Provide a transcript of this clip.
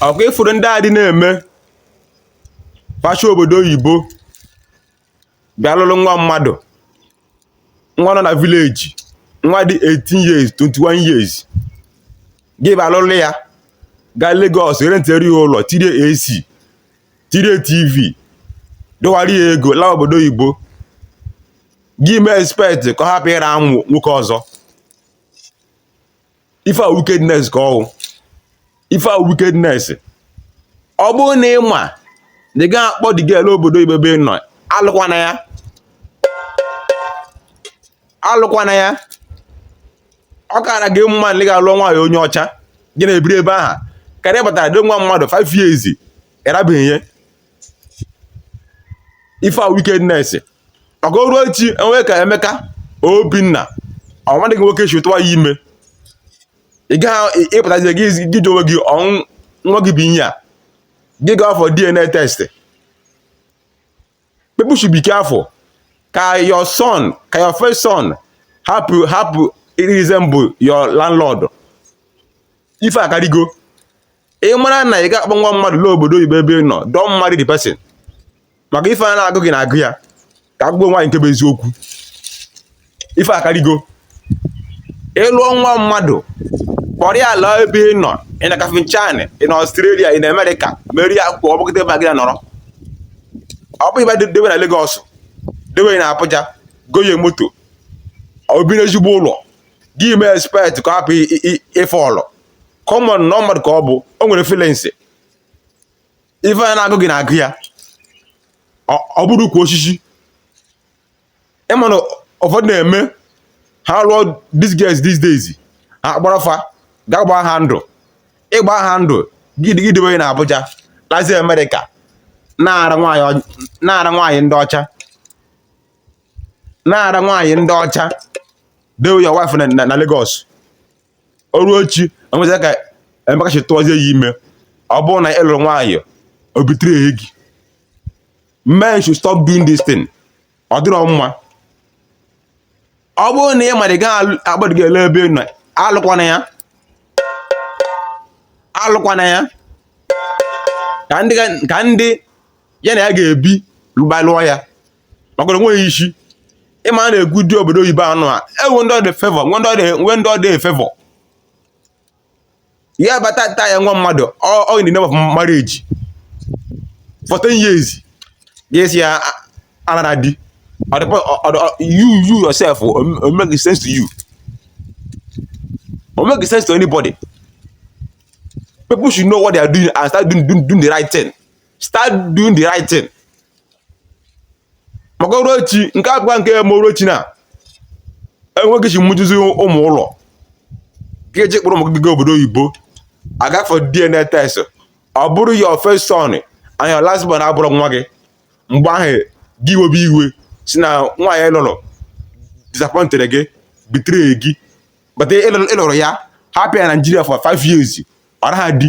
ọ kwa ị fụrụ ndị a dị na-eme facha obodo oyibo bịa lụrụ nwa mmadụ nwa nọ na vileji nwa dị 18 years 21 years gị bịa lụrụ ya gaa Lagos rentere ya ụlọ tirie AC tirie TV dọwara ya ego laa obodo oyibo gị mee expect ka ọ hapụ ịra amụ nwoke ọzọ ife a wickedness ka ọ wụ ife a wickedness ọ bụrụ na ị ma na ị gaghị akpọ the girl laa obodo oyibo ebe ị nọ alụkwana ya alụkwana ya ọ kara gị mma na ị ga-alụ nwaanyị onye ọcha gị na ya ebiri ebe aha karịa batara dewe nwa mmadụ 5 years ị rabeghị ya ife a wickedness maka o ruo echi e nwee ka Emeka Obinna ọ nwadị gị nwoke si tụwa ya ime ị gaghị ịpụtazi gị gị ji onwe gị ọnwụ nwa gị bụ ihe a gị gaa for DNA test people should be careful ka your son ka your first son hapụ resemble your landlord ife akarịgo ị mara na ị ga-akpọ nwa mmadụ laa obodo oyibo ebe ị nọ don't marry the person maka ife a na-agụ gị na-agụ ya ka agụgbu nwaanyị nke bụ eziokwu ife akarịgo ị lụọ nwa mmadụ kpọrọ ya laa ebe ị nọ ị na Kafanchan ị na Australia ị na America meere ya akwụkwọ ọ gbakọta ebe gị nọrọ ọ bụ ibe dewe na Lagos dewe na Abuja goye moto o bi n'ezigbo ụlọ gị mee expect ka ọ hapụ ife ọlụ come on na mmadụ ka ọ bụ o nwere feelings ife a na-agụ gị na-agụ ya ọ bụrọ ukwu osisi ị ma na ụfọdụ na-eme ha lụọ these girls these days ha kpọrọ fa gaa gbaa ha ndụ ị gbaa ha ndụ gị debe na Abuja lazi America na-ara nwaanyị ndị ọcha na-ara nwaanyị ndị ọcha dewe your wife na Lagos o ruo echi enweta ka Emeka si tụọzie ya ime ọ bụrụ na ị lụrụ nwaanyị o bitere ya gị men should stop doing this thing ọ dịrọ mma ọ bụrụ na ị mara ị gaghị akpọ the girl laa ebe ị nọ alụkwana ya alụkwana ya ka ndị ya na ya ga-ebi lụba lụọ ya maka o nweghị isi ịma a na-ekwu di obodo oyibo anụ a e nwe ndị ọ dị favour nwe ndị ọ dị e-favour ya bata ta ya nwa mmadụ ọ in the name of marriage for 10 years ga-esi ya anara di you you yourself o make sense to you o make sense to anybody people should know what they are doing and start doing the right thing start doing the right thing maka o ruo echi nke a bụkwa nke e mee o ruo echi na enweghị chi mụjuzie ụmụ ụlọ gị eji kpọrọ ụmụ gị gaa obodo oyibo a gaa for DNA test ọ bụrụ your first son and your last born abụrụ nwa gị mgbe ahụ gị webe iwe sị na nwaanyị ị lụrụ disappointed gị betray gị but ị lụrụ ya hapụ ya Nigeria for five years ọ naghị di